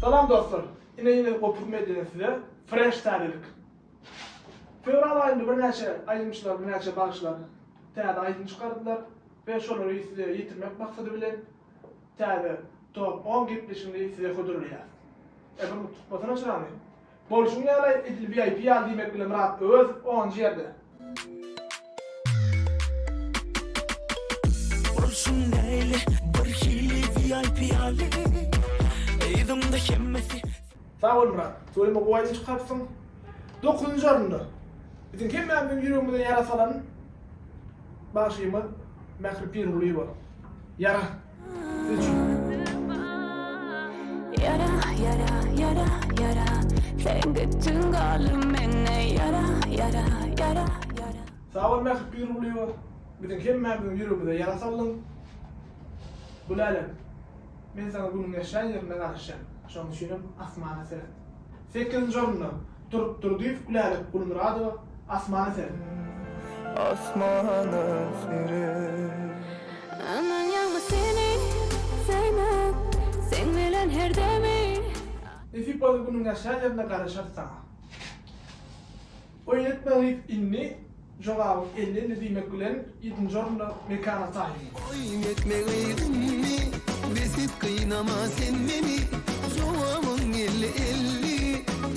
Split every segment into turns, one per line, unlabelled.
Salam dostlar! Ine ýene Gopuz Mediadan size fresh täzelik. Fewral aýynda birnäçe aýdymçylar, birnäçe bagşylar täze aýdym çykardylar we şolary size ýetirmek maksady bilen täze top on gepleşigini size hödürleýäris. Eger unutyp gitmeseňiz şurany. Bolşuň ýaly edil VIP ýaly diýmek bile Myrat Öwezow onunjy ýerde.
Bolşuň näli bir hili VIP ýaly Yzymda hemmesi. Sag bol Myrat.
Toýumy gowyýn çykarypsyň. Dokuzynjy orunda. Biziň hemmämiziň ýüregimize ýara salan bagşymyz Mähri Pirgulyýewa. Ýara.
Sag bol Mähri
Pirgulyýewa, biziň hemmämiziň ýüregimize ýara saldyň. Gülälem, men saňa günüň ýaşan ýerinde garaşýan, şonuň üçinem asmana seret. Sekizinji orunda Turk Durdyýew, Gülälek Gulmyradowa, Asmana seret.
Asmana seret.
Aman ýagmy seni söýmek, seň bilen her demi. Nesip bolsa
günüň ýaşan ýerinde garaşarys saňa. Oýun etmegiňiz indi jogabyň elli elli diýmek bilen ýedinji orunda Mekana taýyn. Oýun etmegiň
indi besip gynama sen meni jogabyň elli elli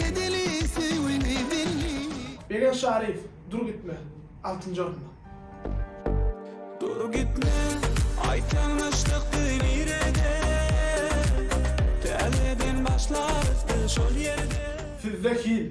edeli söýgümi belli. Begen Şaryýew
Dur gitme altynjy orunda. Dur
gitme aýtsaň nyşlykdy nirede täzeden başlarys biz şol ýerde. Sizde hil.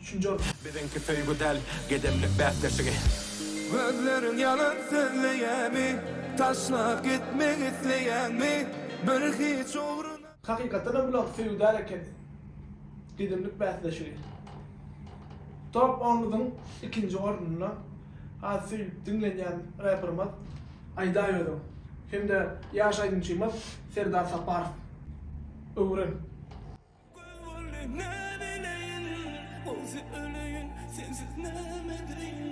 Üçünji orun. Biziňki söýgi däl,
gedemlik bäsleşigi. Gözleriň
ýalan sözleýämi, taşlap gitmek isleýäňmi, bir hiç ugruna. Hakykatdan hem bulaňky
söýgi däl ekeni, gedemlik bäsleşigi. Top onlugyň ikinji ornunda has söýlüp diňlenýän reperimiz Aýdaý özüň hem-de ýaş aýdymçymyz Serdar Saparow. Öwren.
Göz boldy näbileýin Ogzy öleýin sensiz nämedeýin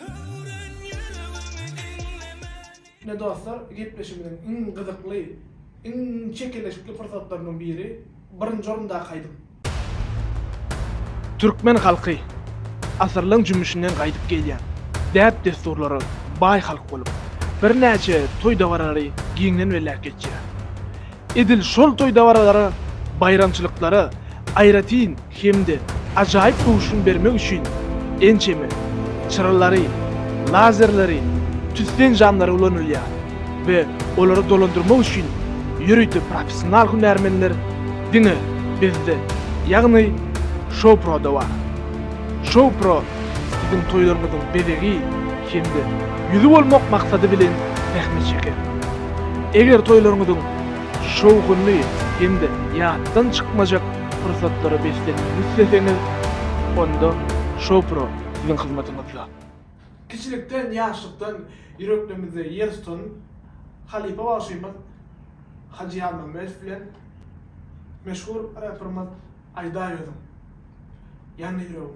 Höwren ýüregimi diňlemänini. Ine dostlar,
gepleşigimiziň iň gyzykly, iň çekeleşikli pursatlarynyň biri, birinji orundaky aýdym. Türkmen halky asyrlaň jümmüşinden gaýdyp gelýän däp-dessurlara baý halk bolup, birnäçe toý-dabaralary giňden belläp geçýär. Edil şol toý dabaralara, baýramçylyklara aýratyn hem-de ajaýyp duşun bermek üçin ençeme çyralary, lazerleri, tüssen jamlary ulanylýar we olary dolandyrmak üçin ýörite professional hünärmenler diňe bizde, ýagny Show Pro-da bar. Show Pro siziň toýlaryňyzyň bezegi, hem-de ýüzi bolmak maksady bilen sähne çeker. Eger toýlaryňyzyň şowhunly hem-de ýatdan çykmajak pursatlara beslenmegini isleseňiz, onda Showpro siziň hyzmatyňyzda. Kiçilikden, ýaşlykdan ýüreklerimizde ýer tutan halypa bagşymyz Hajy Ýazmammedow bilen meşhur reperimiz Aýdaýozum, Ýandy ýüregim,